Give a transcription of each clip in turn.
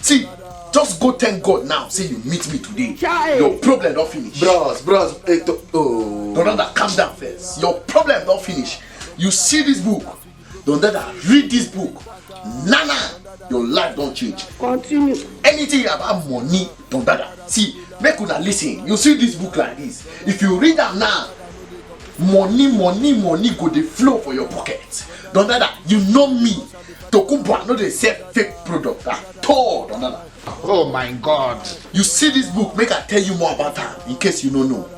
See, just go thank God now. Say you meet me today. Chai. Your problem don't finish. Bros, bros, it, eh, oh. Brother, calm down first. Your problem don't finish. You see this book. Don't let her read this book. Nana, your life don't change. Continue. Anything about money, don't dada. See, make una listen. You see this book like this. If you read am now, money, money, money go dey flow for your pocket. Don't dada, you know me. Tokumbo, I know they sell fake product at all, Donana. Oh my God. You see this book, make I tell you more about her, in case you don't know.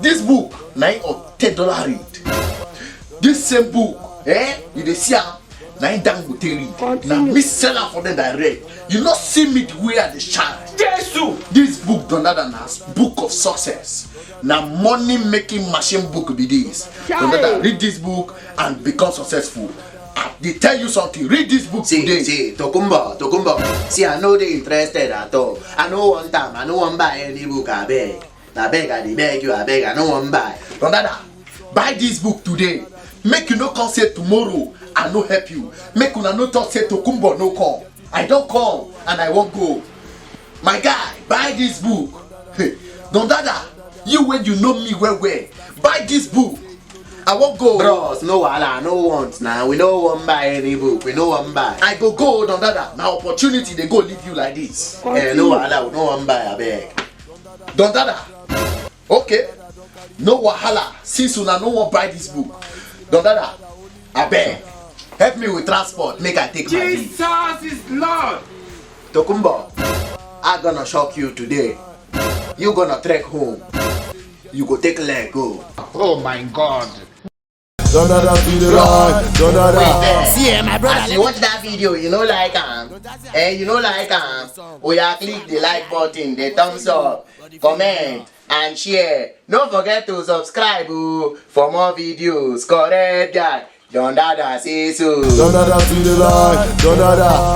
This book, nine or ten dollar read. This same book, eh, you dey see am, nine dangote read. Na me sell am for them that read. You no see me the way I dey shine. Jesu! This book, Donada, na book of success. Na money making machine book be this. Donada, read this book and become successful. I dey tell you something, read this book See, today. see, Tokumbo, Tokumbo. See, I no dey interested at all. I no want am. I no wan buy any book. I beg. I beg. I dey beg you. I beg. I no wan buy. Brother, buy this book today. Make you no come say tomorrow I no help you. Make una no talk say Tokumbo no come. I don come and I wan go. my guy buy this book don dada you wey you know me well well buy this book i wan go bros no wahala no want na we no wan buy any book we no wan buy i go go don dada na opportunity dey go leave you like this eh no wahala we no wan buy abeg don dada okay no wahala since una no wan buy this book don dada abeg help me with transport make i take my leave Jesus is Lord. tokumbo i gonna shock you today you gonna trek home you go take leg go Oh my God. Da da da be the right, da da Wait da. there. See, eh, my brother, As you watch that video, you know like am. Eh, you know like am. Oya click the like button, the thumbs up, comment and share. No forget to subscribe o for more videos. Correct guy. Don Dada say so. Da da da be the right, da da da.